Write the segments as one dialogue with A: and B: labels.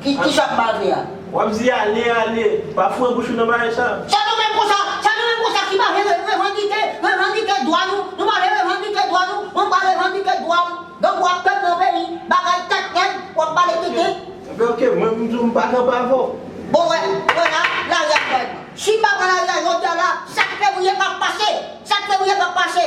A: Ki sa k
B: bave a? W ap di ale,
A: ale. Pa foure bouch ou nan bave sa. Sa nou menm konsa,
B: sa nou menm konsa ki bave revandike, revandike dwa nou, nou bave revandike dwa nou, mwen bave revandike dwa m, donk w ap pèp nan peyi, bagay tèt nèg, w ap pale tenten. Oke, oke, mwen m
A: di w m pa kanpe avè w. Bon wè,
B: wè la, lari a fèb. Si m pa pran lari a jodi a la, sa k fevriye pa p pase, sa k fevriye pa p pase.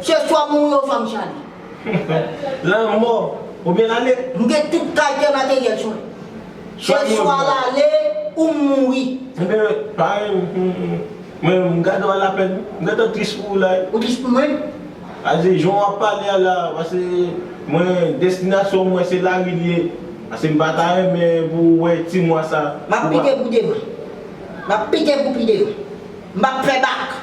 B: Se swa m mouri oswa m chale. Lanmò
A: oubyen lale. M gen tout kalte
B: materyèl sou mwen. Se swa l ale ou m mouri. Ebyen parenn
A: mwen m gade w a lapèn. M gentan tris pou ou la wi. Ou tris pou mwen?
B: A di jan
A: w ap pale a la pase mwen destinasyon mwen se lari li ye. Pase m pa ta renmen pou ou wè ti mwa sa. M ap pite pou
B: devan. M ap pite pou pi devan. M p ap fè bak.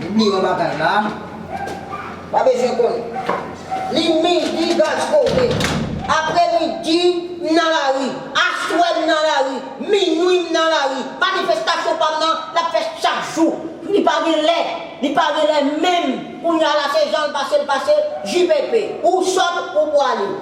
B: Mnmi yon bagay la pa bezwen konnen li midi gaz kote aprè midi m nan lari aswè m nan lari minwi m nan lari manifestasyon pam nan l ap fèt chak jou. Li pa gen lè, li pa gen lè menm, kounya la se janl pase l pase, JPP ou sòt ou pwale.